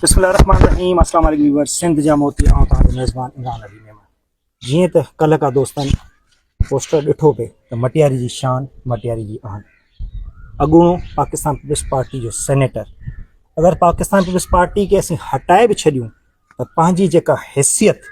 بسم الله الرحمن الرحيم اسلام عليڪم ويورز سنڌ جا موتي آئون توهان جو ميزبان عمران علي ميمڻ جيئن ته ڪلهه کا دوستن پوسٽر ڏٺو پئي ته مٽياري جي شان مٽياري جي آن اڳوڻو پاڪستان پيپلز پارٽي جو سينيٽر اگر پاڪستان پيپلز پارٽي کي اسين هٽائي به ڇڏيون ته پنهنجي جيڪا حيثيت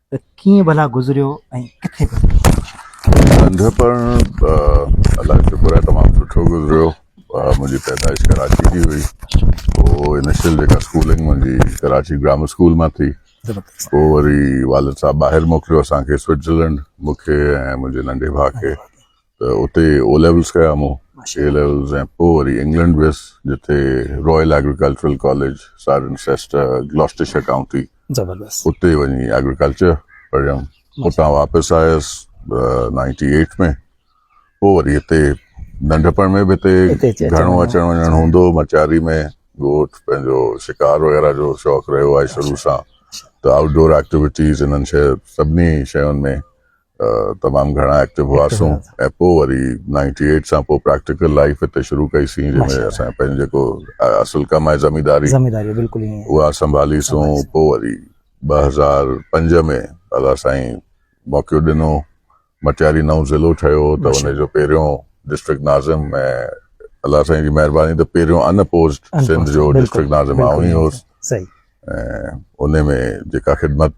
ته ڪيئن ڀلا گذريو ۽ ڪٿي گذريو؟ ننڍپڻ الله جو شڪر آهي تمام سٺو گذريو منهنجي پيدائش ڪراچي جي هئي پوء انيشل جيڪا اسڪولنگ منهنجي ڪراچي گرامر اسڪول مان ٿي پوء وري والد صاحب ٻاهر موڪليو اسان کي سوئٽزرلينڊ مون کي ۽ منهنجي ننڍي ڀاء کي ته اتي او ليولز ڪيا مون اي ليولز ۽ پوء وري انگلنڊ ويس جتي Royal Agricultural College Cirencester گلاسٽرشر county زبردست اتي وڃي ايگريڪلچر پڙهيم اتان واپس آيس نائنٽي ايٽ ۾ پوء وري هتي ننڍپڻ ۾ به هتي گهڻو اچڻ وڃڻ هوندو هو مچاري ۾ ڳوٺ پنهنجو شڪار وغيره جو شوق رهيو آهي شروع سان ته آئوٽ ڊور ايڪٽيويٽيز انهن شهر سڀني شيون ۾ تمام گهڻا ايڪٽو هئاسون ۽ پوء وري نائنٽي ايٽ سان پوء پريڪٽيڪل لائيف هتي شروع ڪئي سين جنهن ۾ اسان پنهنجو جيڪو اصل ڪم آهي زمينداري زمينداري بلڪل ائين اها سنڀالي سون پوء وري ٻه هزار پنج ۾ الله سائين موقعو ڏنو مٽياري نئون ضلعو ٺهيو ته ان جو پهريون ڊسٽرڪٽ ناظم ۽ الله سائين جي مهرباني ته پهريون ان اپوزڊ سنڌ جو ڊسٽرڪٽ ناظم آئون هي هوس ۽ ان ۾ جيڪا خدمت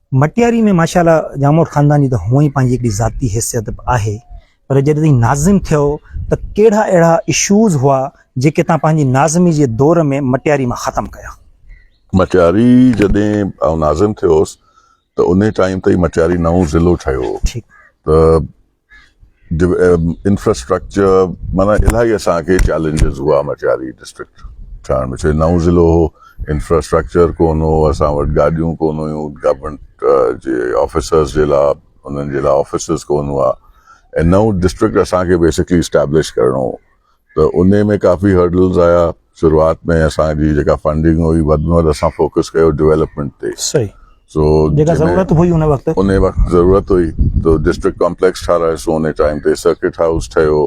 مٽياري ۾ ماشاء الله ڄاموٽ خاندان جي ته هونئن ئي پنهنجي هڪڙي ذاتي حيثيت به آهي پر جڏهن توهين ناظم ٿيو ته ڪهڙا اهڙا Issues هئا جيڪي توهان پنهنجي ناظمي جي دور ۾ مٽياري مان ختم ڪيا؟ مٽياري جڏهن آئون ناظم ٿيو هوس ته انهي ٽائيم تي ئي مٽياري نئون ضلعو ٺهيو هو ته انفراسٽرڪچر معنيٰ الاهي اسان کي چئلينجز هئا مٽياري ڊسٽرڪٽ ٺهڻ ۾ ڇو نئون ضلعو هو انفراسٽرڪچر ڪون هو اسان وٽ گاڏيون ڪون هيون گورنمينٽ جي آفيسرز جي لاء انهن جي لاء آفيسز ڪون هئا ۽ نئون ڊسٽرڪٽ اسان کي بيسڪلي اسٽيبلش ڪرڻو هو ته انهي ۾ ڪافي هرڊلز آيا شروعات ۾ اسان جي جيڪا فنڊنگ هئي وڌ ۾ وڌ اسان فوڪس ڪيو ڊويلپمينٽ تي صحيح سو جيڪا ضرورت هئي ان وقت انهي وقت ضرورت هئي ته ڊسٽرڪٽ ڪامپليڪس ٺارايوسون انهي ٽائيم تي سرڪٽ هائوس ٺهيو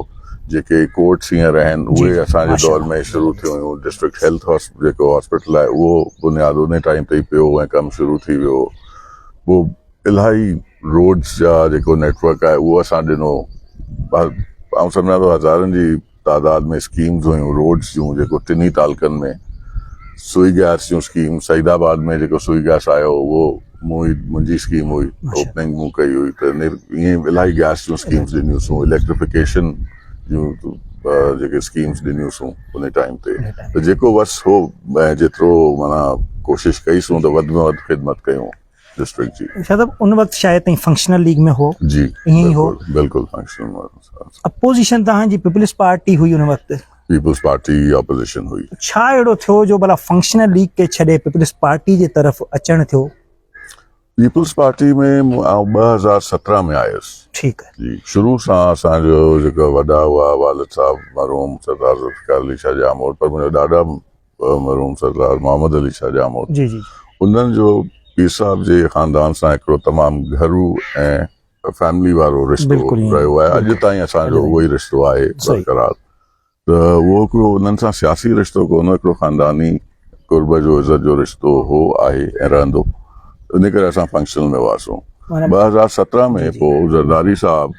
جيڪي ڪورٽس هينئر آهن جي اهي جي اسان جي دور ماشاءالله ۾ شروع ٿيون هيون ڊسٽرڪٽ هيلٿ هاس جيڪو هاسپيٽل آهي اهو بنياد انهي ٽائيم تي ئي پيو ۽ ڪم شروع ٿي ويو هو پوء الاهي روڊز جا جيڪو نيٽ ورڪ آهي اهو اسان ڏنو آئون سمجهان ٿو هزارن جي تعداد ۾ اسڪيمز هيون روڊز جون جيڪو ٽنهي تعلقن ۾ سوئي گيس جون اسڪيم سعيد آباد ۾ جيڪو سوئي گيس آيو اهو مون منهنجي اسڪيم هئي اوپننگ مون ڪئي هئي ته ائين الاهي گيس جون اسڪيمز ڏنيون سون اليڪٽريفڪيشن جون جيڪي اسڪيمز ڏنيون سون ان ٽائيم تي ته جيڪو وس هو جيترو مانا ڪوشش ڪئي سون ته وڌ ۾ وڌ خدمت ڪيون ڊسٽرڪٽ جي شايد ان وقت شايد تائين فنڪشنل ليگ ۾ هو جي ائين ئي هو بلڪل فنڪشنل ۾ اپوزيشن تهان جي پيپلز پارٽي هئي ان وقت پيپلز پارٽي اپوزيشن هئي ڇا اهڙو ٿيو جو بلا فنڪشنل ليگ کي ڇڏي پيپلز پارٽي جي طرف اچڻ ٿيو پيپلز پارٽي ۾ آئون 2017 ۾ آيس ٺيڪ آهي جي شروع سان اسان جو جيڪا وڏا هئا والد صاحب مرحوم سردار ذوالفقار علي شاهه جامور پر منهنجا ڏاڏا مرحوم سردار محمد علي شاهه ڄاموٽ جي جي انهن جو پير صاحب جي خاندان سان هڪڙو تمام گهرو ۽ فيملي وارو رشتو رهيو آهي اڄ تائين اسان جو اهو ئي رشتو آهي برقرار ته اهو هڪڙو انهن سان سياسي رشتو ڪونه هڪڙو خانداني قرب جو عزت جو رشتو هو آهي ۽ رهندو ان ڪري اسان فنڪشنل ۾ هئاسون ٻه هزار سترهن ۾ پوء زرداري صاحب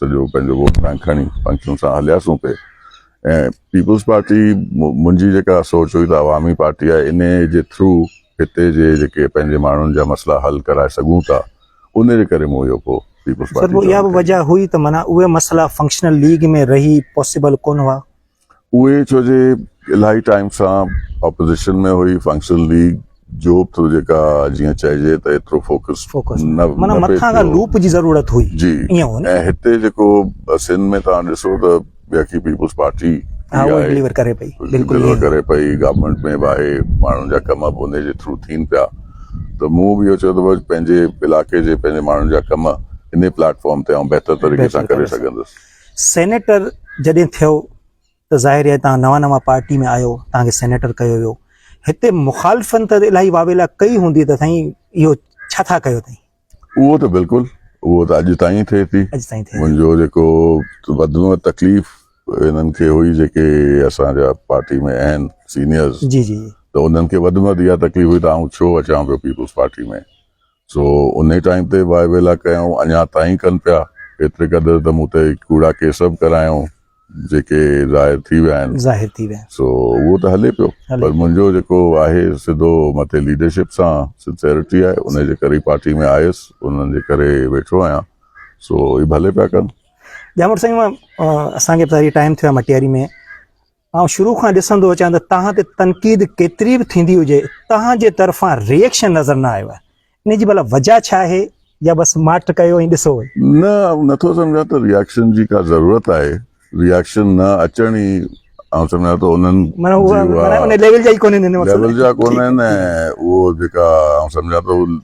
سڄو پنهنجو ووٽ بئنڪ کڻي پنکين سان هلياسون پئي ۽ پيپلز پارٽي منهنجي جيڪا سوچ هئي ته عوامي پارٽي آهي ان جي ٿرو هتي جي جيڪي پنهنجي ماڻهن جا مسئلا حل ڪرائي سگهون ٿا ان جي ڪري مون اهو پوء پيپلز پارٽي جوائن ڪئي. سر اها به وجه هئي ته معنيٰ اهي مسئلا فنڪشنل ليگ ۾ رهي پاسيبل ڪونه هئا. اهي ڇو جي الاهي ٽائيم سان اپوزيشن ۾ هئي فنڪشنل ليگ جو به جيڪا جيئن چئجي ته ايترو فوڪس فوڪس نه نه معنيٰ نه پئي مٿان کان ٿيو لوپ جي ضرورت هئي جي ائين هو نه ۽ هتي جيڪو سنڌ ۾ توهان ڏسو ته بيخي پيپلز پارٽي ها ٿي اهو آهي ڊليور ڪري پئي بلڪل ڊليور ائين ڪري پئي گورنمينٽ ۾ به آهي ماڻهن جا ڪم به ان جي ٿرو ٿين پيا ته مون به اهو چيو ته بس پنهنجي علائقي جي پنهنجي ماڻهن جا ڪم انهي پليٽ فارم تي آئون بهتر طريقي سان بهتر ڪري طريقي سان سگهندس سينيٽر جڏهن ٿيو ته ظاهر آهي توهان نوان نوان پارٽي ۾ آيو توهان کي سينيٽر ڪيو ويو هتي مخالفن ته الاهي واويلا ڪئي هوندي ته سائين اهو ڇا ٿا ڪيو تائين. اهو ته بلڪل اهو ته اڄ تائين ٿئي ٿي منهنجو جيڪو وڌ ۾ وڌ تڪليف هنن کي هئي جيڪي اسان جا پارٽي ۾ اهن سينيئرز ته انهن کي وڌ ۾ وڌ اها تڪليف هئي ته آئون ڇو اچان پيو پيپلز پارٽي ۾. سو انهي ٽائيم تي واء ويلا ڪيائون اڃا تائين ڪن پيا ايتري قدر ته مون تي ڪوڙا ڪيس به ڪرايائون جيڪي ظاهر ٿي ويا آهن ظاهر ٿي ويا سو اهو ته هلي پيو پر منهنجو جيڪو آهي سڌو مٿي ليڊرشپ سان سنسيرٽي آهي انهي جي ڪري پارٽي ۾ آيس انهن جي ڪري ويٺو آهيان سو اهي ڀلي پيا ڪن ڄامڙ سائين اسان کي به ٽائيم ٿيو آهي مٽياري ۾ آئون شروع کان ڏسندو اچان ته توهان تي تنقيد ڪيتري به ٿيندي هجي توهان جي طرفان ريئڪشن نظر نه آيو آهي ان جي ڀلا وجهه ڇا آهي يا بس ماٺ ڪيو ۽ ڏسو وئي. نه آئون نٿو سمجهان ته ريئڪشن جي ڪا ضرورت آهي ريئڪشن نه اچڻ ئي آئون سمجهان ٿو انهن جي اها ليول جا ڪونهن ۽ اهو جيڪا آئون سمجهان ٿو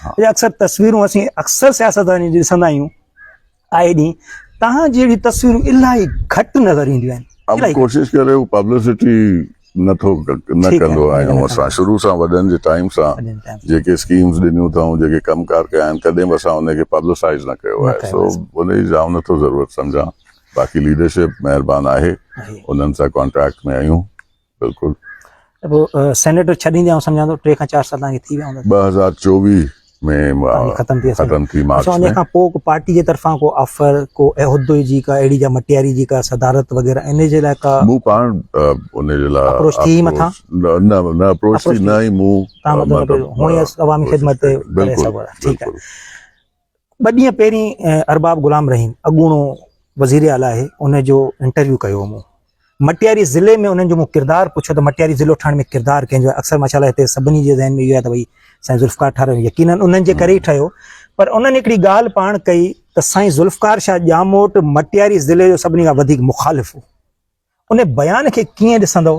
اهي اڪثر تصويرون اسين اڪثر سياستدانن جي ڏسندا آهيون آئي ڏينهن تهان جي اهڙي تصويرون الاهي گهٽ نظر اينديون آهن ام ڪوشش ڪري هو پبلسٽي نه ٿو نه ڪندو آهيون اسان شروع سان وڏن جي ٽائيم سان جيڪي اسڪيمز ڏنيون اٿائون جيڪي ڪم ڪار ڪيا آهن ڪڏهن به اسان ان کي پبلسائز نه ڪيو آهي سو ان جي جام نه ٿو ضرورت سمجهان باقي ليڊرشپ مهربان آهي انهن سان ڪانٽيڪٽ ۾ آهيون بلڪل ته پوء سينيٽر ڇڏيندي آئون سمجهان ٿو ٽي کان چار سال تهانکي ٿي ويا هوندا ٻه هزار چوويهه ۾ ختم ٿي ختم ٿي مارچ ۾ ان کان پوء ڪو پارٽي جي طرفان ڪو آفر ڪو عهدي جي ڪا اهڙي جا مٽياري جي ڪا صدارت وغيره ان جي لاء ڪا مون پاڻ ان جي لاء اپروچ ٿي مٿا نه نه اپروچ ٿي نه ئي مون مطلب عوامي خدمت تي ٺيڪ آهي ٻه ڏينهن پهرين ارباب غلام رحيم اڳوڻو وزير اعليٰ آهي ان جو انٽرويو ڪيو هو مون مٽياري ضلعي ۾ انهن جو مون ڪردار پڇيو ته مٽياري ضلعو ٺهڻ ۾ ڪردار ڪنهن جو آهي اڪثر ماشاء الله هتي سڀني جي ذهن ۾ اهو آهي ته ڀئي سائين ذوالفقار ٺارو يقينن انهن جي ڪري ئي ٺهيو پر انهن هڪڙي ڳالهه پاڻ ڪئي ته سائين ذوالفقار شاهه ڄاموٽ مٽياري ضلعي جو سڀني کان وڌيڪ مخالف هو ان بيان کي ڪيئن ڏسندو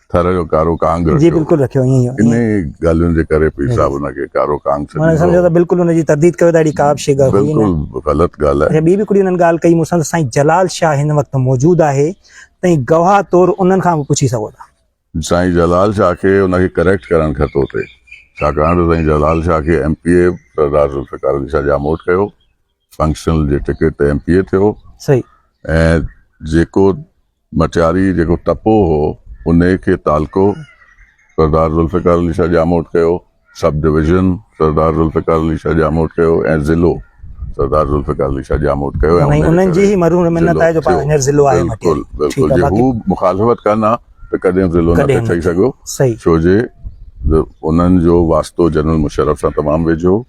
ٿر جو ڪارو ڪانگ رکيو جي بلڪل رکيو ائين هو انهي ڳالهين جي ڪري پير صاحب ان کي ڪارو ڪانگ سڏيندو هو سمجهو ته بلڪل ان جي ترديد ڪيو ته اهڙي ڪا به شيء ڳالهه هئي نه بلڪل غلط ڳالهه آهي ٻي به هڪڙي انهن ڳالهه ڪئي مون سان ته سائين جلال شاهه هن وقت موجود آهي تئين گواهه طور انهن کان به پڇي سگهو ٿا. سائين جلال شاهه کي ان کي ڪريڪٽ ڪرڻ کتو ٿي ڇاڪاڻ ته سائين جلال شاهه کي M P A Sardar Zulfiqar Ali Shah Jamot ڪيو فنڪشنل جي ٽڪيٽ تي ايم پي اي ٿيو صحيح ۽ جيڪو مٽياري جيڪو ٽپو هو ان کي تعلقو سردار ذوالفقار علي شاهه ڄاموٽ ڪيو سب ڊويزن سردار ذوالفقار علي شاهه ڄاموٽ ڪيو ۽ ضلعو سردار ذوالفقار علي شاهه ڄاموٽ ڪيو ۽ انهن انهن جي جي هي مرحوم ضلعو منت آهي جو پاڻ ٿيو. هينئر ضلعو آهي مٽياري. بلڪل ٺيڪ بلڪل آهي، جي باقي- هو مخالفت ڪن ها ته ڪڏهن ضلعو نه ڪڏهن پي نه ٺهي ٿيو. سگهيو صحيح. ڇو جي انهن جو واسطو جنرل مشرف سان تمام ويجهو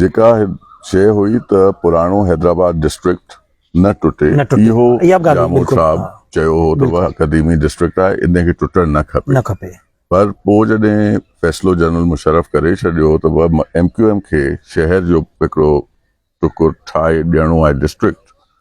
جيڪا شيء هئي ته پراڻو حيدرآباد ڊسٽرڪٽ نه ٽٽي، نه ٽٽي. اهو اها به ڳالهه هئي، ڄامو بلڪل. صاحب ها. چيو هو ته بلڪل. اها قديمي ڊسٽرڪٽ آهي، ان کي ٽٽڻ نه کپي. نه کپي. پر پوء جڏهن فيصلو جنرل مشرف ڪري ڇڏيو ته ايم ڪيو ايم کي شهر جو هڪڙو ٽڪر ٺاهي ڏيڻو آهي ڊسٽرڪٽ،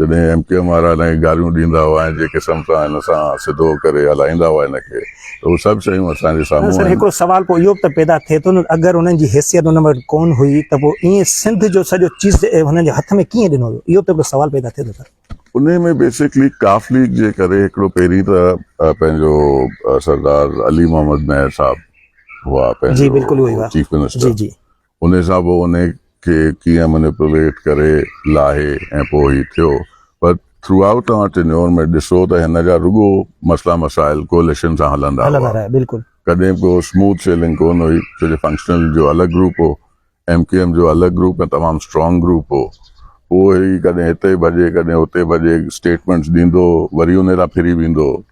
جڏهن ايم ڪيو ايم وارا هن کي گاريون ڏيندا هئا ۽ جنهن قسم سان هن سان سڌو ڪري هلائيندا هئا هن کي ته اهي سڀ شيون اسان جي سامهون آهن. سر هڪڙو سوال پوء اهو به ته پيدا ٿئي ٿو نه اگر انهن جي حيثيت انهن وٽ ڪون هئي ته پوء ائين سنڌ جو سڄو چيز هنن جي هٿ ۾ ڪيئن ڏنو ويو اهو به هڪڙو سوال پيدا ٿئي ٿو سر. انهي ۾ بيسڪلي ڪاف ليگ جي ڪري هڪڙو پهرين ته پنهنجو سردار علي محمد مهر صاحب هئا پنهنجو چيف منسٽر انهي سان به انهي کي ڪيئن منيپوليٽ ڪري لاهي ۽ پوء هي ٿيو پر ٿرو آئوٽ توهان ٽينيور ۾ ڏسو ته هن جا رڳو مسئلا مسائل ڪوئليشن سان هلندا هئا هلندا رهيا بلڪل. ڪڏهن به ڪو اسموٿ سيلنگ ڪون هئي ڇو جو فنڪشنل جو الڳ گروپ هو ايم ڪيو ايم جو الڳ گروپ ۽ تمام اسٽرانگ گروپ هو پوء هي ڪڏهن هتي ڀڄي ڪڏهن هتي ڀڄي اسٽيٽمينٽس ڏيندو هو وري انهي تان ڦري ويندو هو.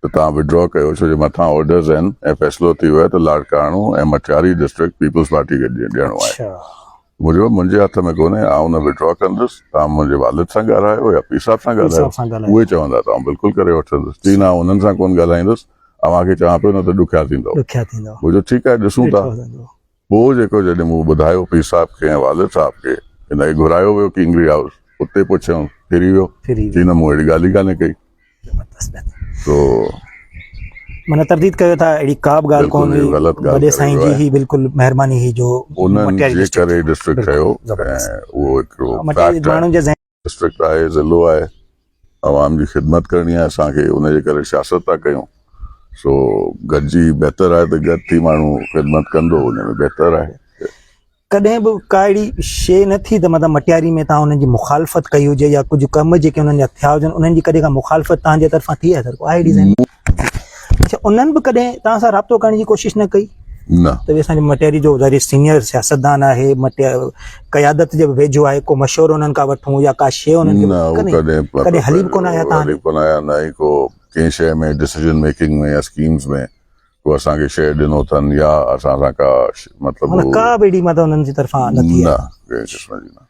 ته توهان وڊرا ڪيو ڇو جو مٿان آرڊرز آهن ۽ فيصلو ٿي ويو آهي ته لاڙ ڪاڻو ۽ مٽياري ڊسٽرڪٽ پيپلز پارٽي کي ڏيڻو آهي مون چيو منهنجي هٿ ۾ ڪونهي آئون نه وڊرا ڪندس توهان منهنجي والد سان ڳالهايو يا پير صاحب سان ڳالهايو اهي چوندا ته آئون بلڪل ڪري وٺندس چي نه آئون انهن سان ڪونه ڳالهائيندس اوهان کي چوان پيو نه ته ڏکيا ٿيندؤ مون چيو ٺيڪ آهي ڏسون ٿا پوء جيڪو جڏهن مون ٻڌايو پير صاحب کي ۽ والد صاحب کي ته نئي گهرايو ويو ڪينگري هائوس اتي پڇيائون ڦري ويو چي نه مون اهڙي ڳالهه ئي ڪانهي ڪئي تو معنيٰ ترديد ڪيو ٿا اهڙي ڪا به ڳالهه ڪونه هئي وڏي سائين جي هي بلڪل مهرباني هئي جو انهن جي ڪري ڊسٽرڪٽ ٺهيو ۽ اهو هڪڙو فيڪٽ آهي ڊسٽرڪٽ آهي، ضلعو آهي، عوام جي خدمت ڪرڻي آهي اسان کي، ان جي ڪري سياست ٿا ڪيون، سو گڏجي بهتر آهي ته گڏ ٿي ماڻهو خدمت ڪندو ان ۾ بهتر آهي. ڪڏهن به ڪا اهڙي شيء نه ٿي ته مطلب مٽياري ۾ توهان انهن جي مخالفت ڪئي هجي يا ڪجهه ڪم جيڪي انهن جا ٿيا هجن انهن جي ڪڏهن ڪا مخالفت توهان جي طرفان ٿي آهي سر ڪو آهي اهڙي ذهن ۾؟ اچھا انهن به ڪڏهن توهان سان رابطو ڪرڻ جي ڪوشش نه ڪئي؟ نه. ته اهي اسان جي مٽياري جو ظاهري سينيئر سياستدان آهي، مٽيا قيادت جي به ويجهو آهي، ڪو مشورو انهن کان وٺون يا ڪا شيء انهن کي نه هو ڪڏهن ڪڏهن پتو ڪڏهن هلي به ڪونه آيا تان هلي به ڪونه آيا نه ئي ڪو ڪنهن شيء ۾ ڊسيزن ميڪنگ ۾ يا اسڪيمز ۾ ڪو اسان کي شيء ڏنو اٿن يا اسان سان ڪا مطلب مطلب ڪا به اهڙي مدد انهن جي طرفان نه ٿي آهي نه ڪنهن قسم جي نه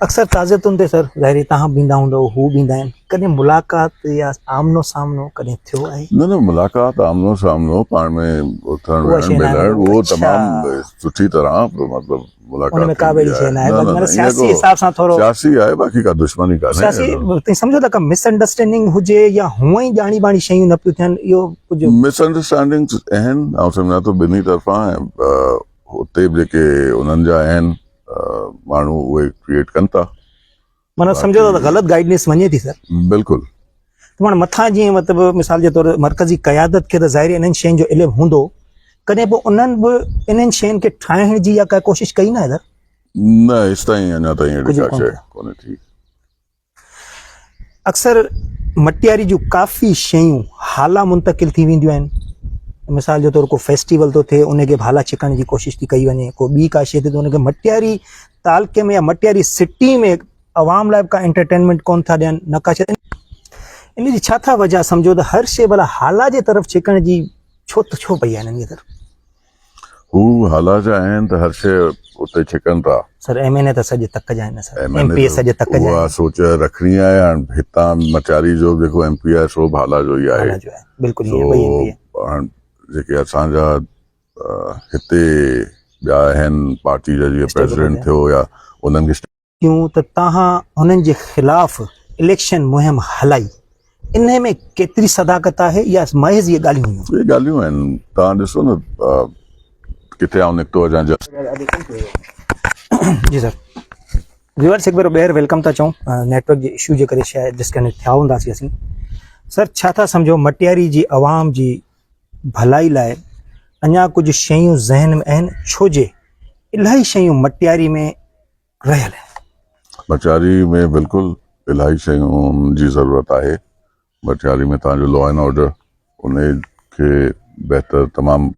اڪثر تعزيتن تي سر ظاهري تهان به ايندا هوندؤ هو به ايندا آهن ڪڏهن ملاقات يا آمنو سامنو ڪڏهن ٿيو آهي؟ نه نه ملاقات آمنو سامنو پاڻ ۾ اٿڻ ويهڻ ملڻ اهو تمام سٺي طرح مطلب ملاقات ان ۾ ڪا به اهڙي شيء ناهي باقي مطلب سياسي حساب سان ٿورو سياسي آهي باقي ڪا دشمني ڪانهي سياسي تون سمجهو ته ڪا مس انڊرسٽينڊنگ هجي يا هونئن ئي ڄاڻي ٻاڻي شيون نه پيون ٿين اهو ڪجهه مس انڊرسٽينڊنگز آهن آئون سمجهان ٿو ٻنهي طرفان اتي به جيڪي انهن جا آهن ماڻهو اهي ڪريئيٽ ڪن ٿا مانا سمجھو ته غلط گائيڊنس وڃي ٿي سر بلڪل مانا مٿان جيئن مطلب مثال جي طور مرڪزي قيادت کي ته ظاهر انهن شين جو علم هوندو ڪڏهن به انهن به انهن شين کي ٺاهڻ جي يا ڪا ڪوشش ڪئي نه سر نه هيستائين اڃا تائين اهڙي ڪا شيء ڪونهي ٿي اڪثر مٽياري جون ڪافي شيون هالا منتقل ٿي وينديون آهن مثال جي طور ڪو فيسٽيول ٿو ٿئي ان کي به هالا ڇڪڻ جي ڪوشش ٿي ڪئي وڃي ڪو ٻي ڪا شيء ٿي ته ان کي مٽياري تعلقي ۾ يا مٽياري سٽي ۾ عوام لاء به ڪا انٽرٽينمنٽ ڪون ٿا ڏين نه ڪا شيء ان جي ڇا ٿا وجهه سمجهو ته هر شيء ڀلا هالا جي طرف ڇڪڻ جي ڇو ته ڇو پئي آهن ان جي طرف هو هالا جا آهن ته هر شيء اتي ڇڪن ٿا. سر ايم اين اي ته سڄ تڪ جا آهن sir M M N A P A سڄ تڪ جا اها آهن. سوچ رکڻي آهي هاڻ هتان مٽياري جو به جيڪو ايم پي آهي سو به هالا جو ئي آهي هالا جو آهن بلڪل سو ائين ٻئي ايم پي اي هاڻ جيڪي اسان جا هتي ٻيا آهن پارٽي جا جيئن اسٽيبل پريزيڊنٽ هجن. ٿيو يا انهن کي ڪيون ته توهان هنن جي خلاف اليڪشن مهم هلائي، انهي ۾ ڪيتري صداقت آهي يا محض اهي ڳالهيون هيون؟ اهي ڳالهيون آهن، توهان ڏسو نه ڪٿي آئون نڪتو هجان جا. جي سر ويورس هڪ ڀيرو ٻيهر ويلڪم ٿا چئون نيٽ ورڪ جي اشو جي ڪري شايد ڊسڪنيڪٽ ٿيا هونداسي اسين سر ڇا ٿا سمجهو مٽياري جي عوام جي ڀلائي لاء اڃا ڪجهه شيون ذهن ۾ آهن ڇو جي الاهي شيون مٽياري ۾ رهيل آهي. ڀٽياري ۾ بلڪل الاهي شيون جي ضرورت آهي ڀٽياري ۾ توهان جو لا اينڊ آرڊر انهي کي بهتر تمام.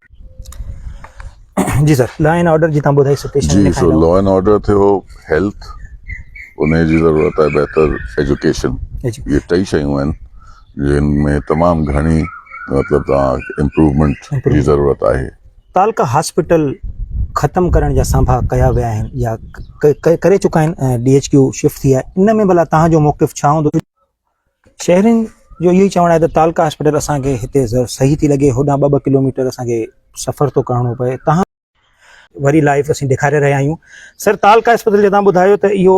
جي سر لا اينڊ آرڊر جي تان ٻڌائي سچويشن جي سو لا اينڊ آرڊر ٿيو هيلٿ انهي جي ضرورت آهي بهتر ايجوڪيشن اهي ٽئي شيون آهن جن ۾ تمام گهڻي مطلب توهان امپروومينٽ جي ضرورت آهي. تعلقه هاسپيٽل ختم ڪرڻ جا سانڀا ڪيا ويا آهن يا ڪري چڪا آهن ۽ ڊي ايڇ ڪيو شفٽ ٿي آهي ان ۾ ڀلا توهان جو موقف ڇا هوندو؟ شهرين جو اهو ئي چوڻ آهي ته تعلقه هاسپيٽل اسان کي هتي صحيح ٿي لڳي هوڏانهن ٻه ٻه ڪلوميٽر اسان کي سفر ٿو ڪرڻو پئي توهان وري لائيو اسين ڏيکاري رهيا آهيون سر تعلقه هاسپيٽل جو توهان ٻڌايو ته اهو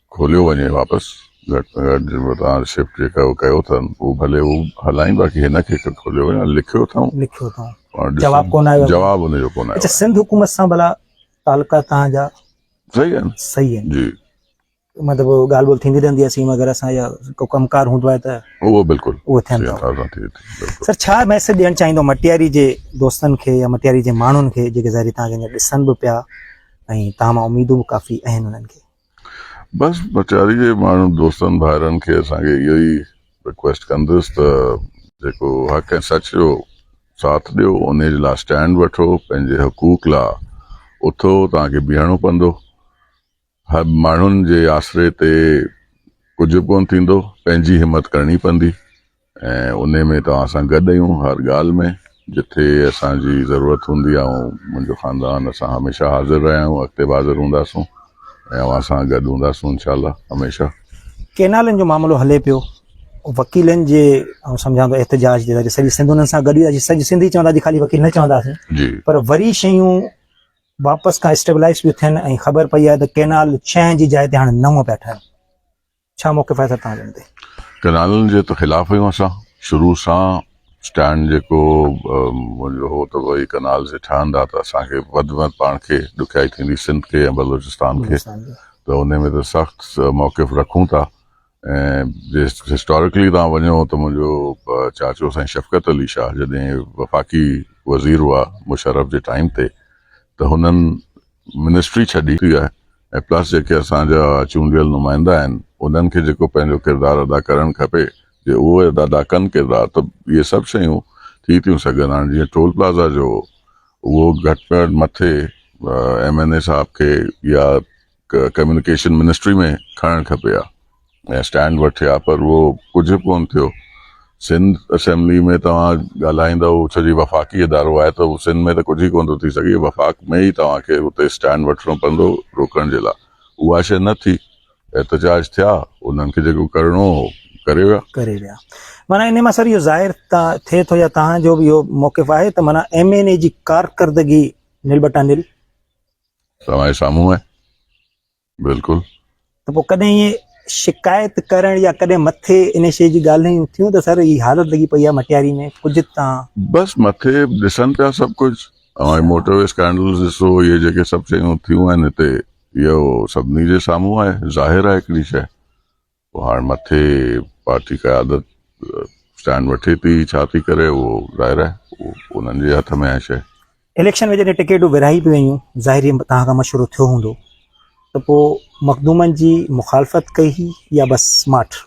کوليو وڃي واپس گهٽ ۾ گهٽ جيڪو توهان شفٽ جيڪا ڪيو ٿا اهو ڀلي هو هلائين باقي هن کي کوليو وڃي ۽ لکيو اٿائون لکيو اٿائون پاڻ ڏسون. جواب ڪونه آيو. جواب ان جو ڪونه آيو اچھا سنڌ حڪومت سان ڀلا تعلقات توهان جا صحيح آهن صحيح آهن جي مطلب ڳالهه ٻولهه ٿيندي رهندي آهي سيم وغيره سان يا ڪو ڪم ڪار هوندو آهي ته اهو بلڪل اهو ٿين ٿا سياسات سان ٿئي ٿي بلڪل سر ڇا ميسج ڏيڻ چاهيندو مٽياري جي دوستن کي يا مٽياري جي ماڻهن کي جيڪي ظاهري توهان کي هينئر ڏسن به پيا ۽ توهان مان اميدون به ڪافي اهن انهن کي بس بچاري جي ماڻهن دوستن ڀائرن کي اسان کي اهو ئي رڪويسٽ ڪندس ته جيڪو حق ۽ سچ جو ساٿ ڏيو انهي جي لا اسٽينڊ وٺو پنهنجي حقوق لا اٿو توهان کي بيهڻو پوندو هر ماڻهن جي آسري تي ڪجهه ڪون ٿيندو پنهنجي همت ڪرڻي پوندي. ۽ انهي ۾ توهان سان گڏ آهيون هر ڳالهه ۾ جٿي اسان جي ضرورت هوندي آئون منهنجو خاندان اسان هميشه حاضر رهيا آهيون اڳتي به حاضر هونداسون ۽ اوهان سان گڏ هونداسون انشاء الله هميشه. ڪينالن جو معاملو هلي پيو وڪيلن جي آئون سمجهان ٿو احتجاج جي سڄي سنڌ انهن سان گڏ هئي سڄي سنڌ ئي چوندا جي خالي وڪيل نه چونداسين پر وري شيون واپس کان اسٽيبلائز پيون ٿين ۽ خبر پئي آهي ته ڪينال ڇهه جي جاء تي هاڻي نو پيا ٺهن ڇا موقف آهي سر توهان جن تي؟ ڪئنالن جي ته خلاف آهيون اسان شروع سان اسٽينڊ جيڪو منهنجو هو ته ڀائي ڪئنالز جي ٺهندا ته اسان کي وڌ ۾ وڌ پاڻ کي ڏکيائي ٿيندي سنڌ کي ۽ بلوچستان کي ته ان ۾ ته سخت موقف رکون ٿا ۽ جي هسٽارڪلي توهان وڃو ته منهنجو چاچو سائين شفقت علي شاهه جڏهن وفاقي وزير هئا مشرف جي ٽائيم تي ته هنن منسٽري ڇڏي ٿي آهي ۽ پلس جيڪي اسان جا چونڊيل نمائندا آهن انهن کي جيڪو پنهنجو ڪردار ادا ڪرڻ کپي جي اهو ادا ڪن ڪردار ته اهي سڀ شيون ٿي ٿيون سگهن هاڻي جيئن ٽول پلازا جو اهو گهٽ ۾ گهٽ مٿي ايم اين اي صاحب کي يا ڪميونيڪيشن منسٽري ۾ کڻڻ کپي ها ۾ اسٽينڊ وٺي ها پر اهو ڪجهه ڪون ٿيو سنڌ اسيمبلي ۾ توهان ڳالهائيندا ڇو جي وفاقي ادارو آهي ته سنڌ ۾ ته ڪجهه ئي ڪون ٿو ٿي سگهي وفاق ۾ ئي توهان کي اتي اسٽينڊ وٺڻو پوندو روڪڻ جي لاء اها شيء نه ٿي احتجاج ٿيا انهن کي جيڪو ڪرڻو هو ڪري ويا. ڪري ويا معنيٰ انهي مان سر اهو ظاهر ٿئي ٿو يا توهان جو به اهو موقف آهي ته معنيٰ ايم اين اي جي ڪارڪردگي نل بٽا نل توهان جي سامهون آهي بلڪل ته پوء ڪڏهن ائين شڪايت ڪرڻ يا ڪڏهن مٿي ان شيء جي ڳالهيون ٿيون ته سر هي حالت لڳي پئي آهي مٽياري ۾ ڪجهه تان بس مٿي ڏسن پيا سڀ ڪجهه اوهان هي موٽر وي اسڪينڊلز ڏسو اهي جيڪي سڀ شيون ٿيون آهن هتي اهو سڀني جي سامهون آهي ظاهر آهي هڪڙي شيء هاڻ مٿي پارٽي قيادت اسٽينڊ وٺي ٿي ڇا ٿي ڪري اهو ظاهر آهي انهن جي هٿ ۾ آهي شيء. اليڪشن ۾ جڏهن ٽڪيٽون ورهائي به ويون ظاهري توهان کان مشورو ٿيو هوندو ته پوء مخدومن جي مخالفت ڪئي هئي يا بس ماٺ؟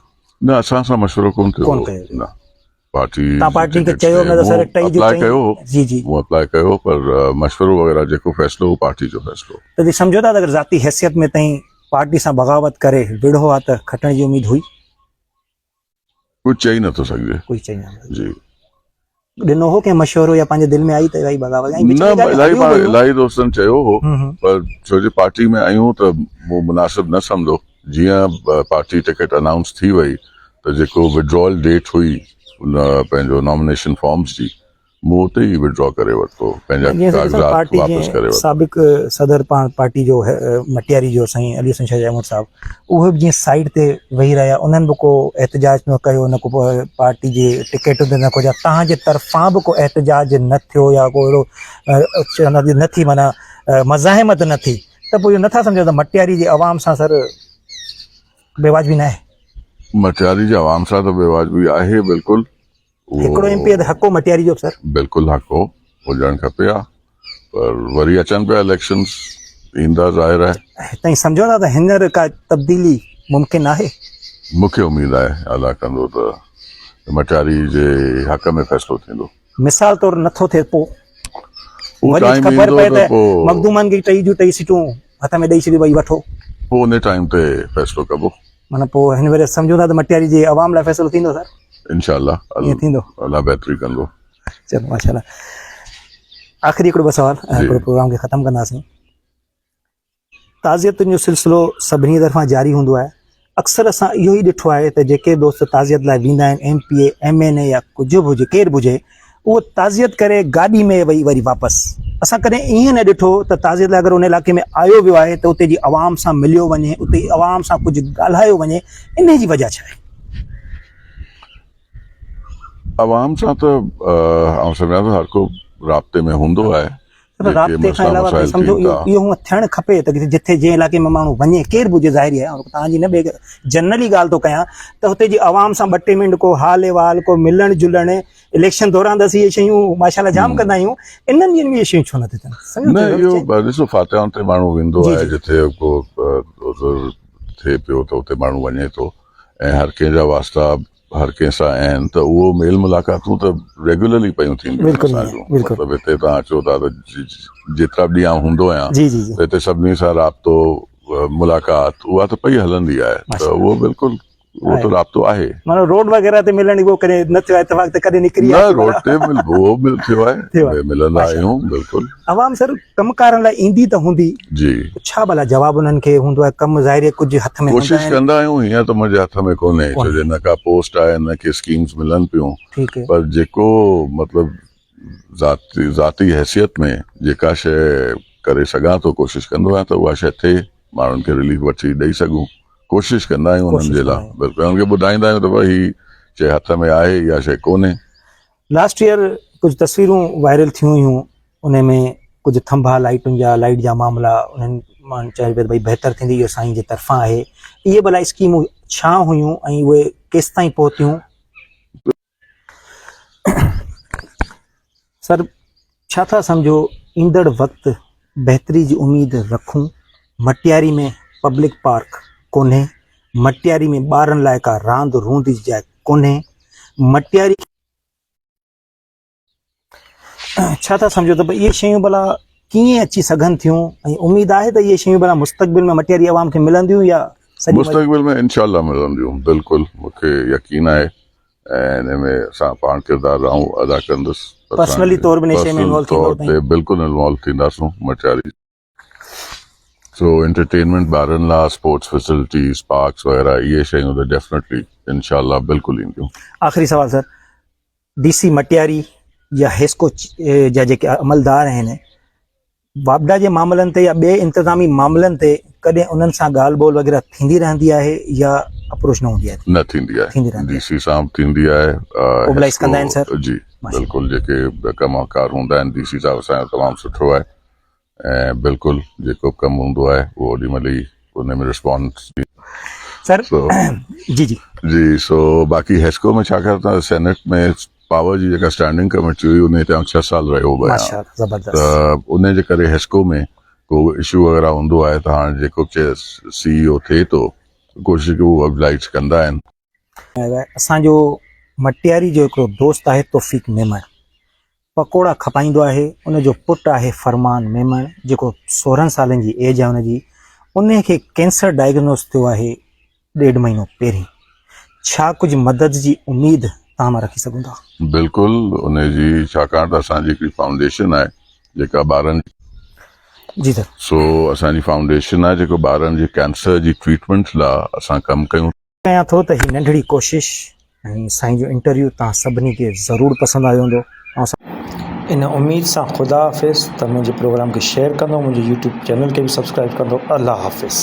نه اسان سان مشورو ڪونه ٿيو هو. پارٽي تان پارٽي کي چيو نه ته سر ٽئي جو ٽئي ڪيو جي جي مون اپلاء ڪيو پر مشورو وغيره جيڪو فيصلو هو پارٽي جو فيصلو ته جي سمجهو ٿا اگر ذاتي حيثيت ۾ تائين پارٽي سان بغاوت ڪري وڙهو ها ته کٽڻ جي اميد هئي ڪجهه چئي نه ٿو سگهجي ڪجهه چئي نه جي ڏنو هو ڪنهن مشورو يا پنهنجي دل ۾ آئي ته الاهي بغاوت ۽ نه الاهي الاهي دوستن چيو هو پر ڇو جي پارٽي ۾ آيون ته مون مناسب نه سمجهو جيئن پارٽي ٽڪيٽ انائونس ٿي وئي ته جيڪو وڊرائل ڊيٽ هئي ان پنهنجو نامينيشن فارمز جي مون اتي ئي وڊرا ڪري ورتو پنهنجا ڪاغذات واپس ڪري ورتا. سابق صدر پاڻ پارٽي جو مٽياري جو سائين علي حسن شاهه جي امڙ صاحب اهي به جيئن سائيڊ تي ويهي رهيا انهن به ڪو احتجاج نه ڪيو نه ڪو پارٽي جي ٽڪيٽن تي نه ڪو جا توهان جي طرفان به ڪو احتجاج نه ٿيو يا ڪو اهڙو نه ٿي معنيٰ مزاحمت نه ٿي. ته پوء اهو نه ٿا سمجهو ته مٽياري جي عوام سان سر بيواجبي ناهي؟ مٽياري جي عوام سان ته بيواجبي آهي بلڪل. هڪڙو ايم پي ته حق هو مٽياري جو به سر. بلڪل حق هو هجڻ کپي ها پر وري اچن پيا اليڪشنز ايندا ظاهر آهي. تائين سمجهو ٿا ته هينئر ڪا تبديلي ممڪن آهي؟ مون کي اميد آهي الله ڪندو ته مٽياري جي حق ۾ فيصلو ٿيندو. مثال طور نه ٿو ٿئي پو وري خبر پئي ته مخدومن کي ٽئي جون ٽئي سيٽون هٿ ۾ ڏئي ڇڏي ڀئي وٺو پو ان ٽائيم تي فيصلو ڪبو معنی پو هن وري سمجهون ٿا ته مٽياري جي عوام لاء فيصلو ٿيندو سر انشاءالله ائين ٿيندو الله بهتري ڪندو چلو ماشاءالله آخري هڪڙو ٻه سوال هڪڙو پروگرام کي ختم ڪنداسين تعزيتن جو سلسلو سڀني طرفان جاري هوندو آهي. اڪثر اسان اهو ئي ڏٺو آهي ته جيڪي دوست تعزيت لاء ويندا آهن M P A, M N A يا ڪجهه به هجي ڪير به هجي اهو تعزيت ڪري گاڏي ۾ ويهي وري واپس. اسان ڪڏهن ايئن نه ڏٺو ته تعزيت لاء اگر ان علائقي ۾ آيو ويو آهي ته اتي جي عوام سان مليو وڃي اتي جي عوام سان ڪجهه ڳالهايو وڃي انهي جي وجهه ڇا آهي؟ عوام سان ته آئون سمجهان ٿو هر ڪو رابطي ۾ هوندو آهي جيڪي رابطي کان علاوه تائين سمجهو اهو هونء ٿيڻ کپي ته جتي جنهن علائقي ۾ ماڻهو وڃي ڪير به هجي ظاهري آهي توهان جي نه بيگ جنرلي ڳالهه ٿو ڪيان ته هتي جي عوام سان ٻه ٽي منٽ ڪو حال احوال ڪو ملڻ جلڻ اليڪشن دوران ته اسين اهي شيون ماشاء الله جام ڪندا آهيون انهن ڏينهن ۾ اهي شيون ڇو نٿي ٿين نه اهو ڏسو فاتحان تي ماڻهو ويندو آهي جتي ڪو عذر ٿئي پيو ته اتي ماڻهو وڃي ٿو ۽ هر ڪنهن جا واسطا هر ڪنهن سان آهن ته اهو ميل ملاقاتون ته ريگيولرلي پيون ٿينديون آهن بلڪل اسان جون بلڪل مطلب هتي تان اچو ٿا ته جي- جي- جيترا به ڏينهن آئون هوندو آهيان جي جي جي ته هتي سڀني سان رابطو آه، ملاقات اها ته پئي هلندي آهي ته ماشاء الله اهو بلڪل اهو آهي ته رابطو آهي مانو روڊ وغيره تي ملڻ اهو ڪڏهن نه ٿيو آهي اتفاق ته ڪڏهن نڪري نه آهي روڊ تي مل اهو مل ٿيو آهي ٿيو آهي ملندا ماشاء الله آهيون بلڪل عوام سر ڪم ڪارن لاء ايندي ته هوندي جي ته ڇا ڀلا جواب انهن کي هوندو آهي ڪم ظاهري ڪجهه هٿ ۾ هوندا ڪوشش آهن ڪندا آهيون هيئن ته منهنجي هٿ ۾ ڪونهي ڇو جو ڪونهي نه ڪا پوسٽ آهي نه ڪي اسڪيمز ملن پيون ٺيڪ پر جيڪو مطلب ذاتي ذاتي حيثيت ۾ جيڪا شيء ڪري سگهان ٿو ڪوشش ڪندو آهيان ته اها شيء ٿئي ماڻهن کي رليف وٺي ڏئي سگهون ڪوشش ڪندا آهيون انهن ڪوشش جي لاء ڪندا آهيون بلڪل انهن کي ٻڌائيندا آهيون ته ڀاء هي شيء هٿ ۾ آهي اها شيء ڪونهي لاسٽ ييئر ڪجهه تصويرون وائرل ٿيون هيون انهن ۾ ڪجهه ٿنڀا لائٽن جا لائٽ جا معاملا انهن مان چيو پيو ته ڀئي بهتر ٿيندي اهو سائين جي طرفان آهي اهي ڀلا اسڪيمون ڇا هيون ۽ اهي ڪيستائين پهتيون. سر ڇا ٿا سمجهو ايندڙ وقت بهتري جي اميد رکون، مٽياري ۾ پبلڪ پارڪ ڪونهي، مٽياري ۾ ٻارن لاء ڪا راند روند جي جاء ڪونهي، مٽياري کي. ڇا ٿا سمجهو ته اهي شيون ڀلا ڪيئن اچي سگهن ٿيون ۽ اميد آهي ته اهي شيون ڀلا مستقبل ۾ مٽياري عوام کي ملنديون يا سڄي. مستقبل ۾ انشاء الله ملنديون بلڪل مون کي يقين آهي ۽ ان ۾ اسان پاڻ ڪردار رھون ادا ڪندس پرسنلي طور به نشي ۾ انوالو ٿيندو طور تي بلڪل انوالو ٿينداسون مٽياري سو انٽرٽينمينٽ ٻارن لا اسپورٽس فيسلٽيز پارڪس وغيره اھي شيون ته ڊيفنيٽلي انشاء الله بلڪل اينديون. آخري سوال سر ڊي سي مٽياري يا حيسڪو جا جيڪي عملدار آهن واپڊا جي معاملن تي يا ٻئي انتظامي معاملن تي ڪڏهن انهن سان ڳالهه ٻولهه وغيره ٿيندي رهندي آهي يا اپروچ نه هوندي آهي؟ نه ٿيندي آهي ٿيندي رهندي آهي. ڊي سي سان به ٿيندي آهي. اوبلائيز ڪندا آهن سر. جي بلڪل جيڪي به ڪم ڪار هوندا آهن ڊي سي صاحب اسان جو تمام سٺو آهي ۽ بلڪل جيڪو به ڪم هوندو آهي اهو اوڏي مهل ئي ان ۾ رسپانس ڏي سر جي جي جي سو باقي هيسڪو ۾ ڇاڪاڻ ته سينيٽ ۾ پاور جي جيڪا اسٽينڊنگ ڪميٽي هئي انهي تي آئون ڇهه سال رهيو به آهيان ته انهي جي ڪري حسڪو ۾ ڪو به اشو وغيره هوندو آهي ته هاڻ جيڪو به سي اي او ٿئي ٿو ڪوشش ڪري هو ابلائيٽس ڪندا آهن. اسان جو مٽياري جو هڪڙو دوست آهي توفيق ميمڻ پڪوڙا کپائيندو آهي ان جو پٽ آهي فرمان ميمڻ جيڪو سورهن سالن جي ايج آهي ان جي انهي کي ڪينسر ڊائگنوز ٿيو آهي ڏيڍ مهينو پهرين ڇا ڪجهه مدد جي اميد توهان مان رکي سگهون ٿا؟ بلڪل انهي جي ڇاڪاڻ ته اسان جي هڪڙي فائونڊيشن آهي جيڪا ٻارن جي سر. سو اسان جي فائونڊيشن آهي جيڪو ٻارن جي ڪينسر جي ٽريٽمينٽ لا اسان ڪم ڪيون ٿا. ڪيان ٿو ته هي ننڍڙي ڪوشش ۽ سائين جو انٽرويو توهان سڀني کي ضرور پسند آيو هوندو اوهان سان. ان اميد سان خدا حافظ ته منهنجي پروگرام کي شيئر ڪندو منهنجي يوٽيوب چينل کي به سبسڪرائيب ڪندو الله حافظ.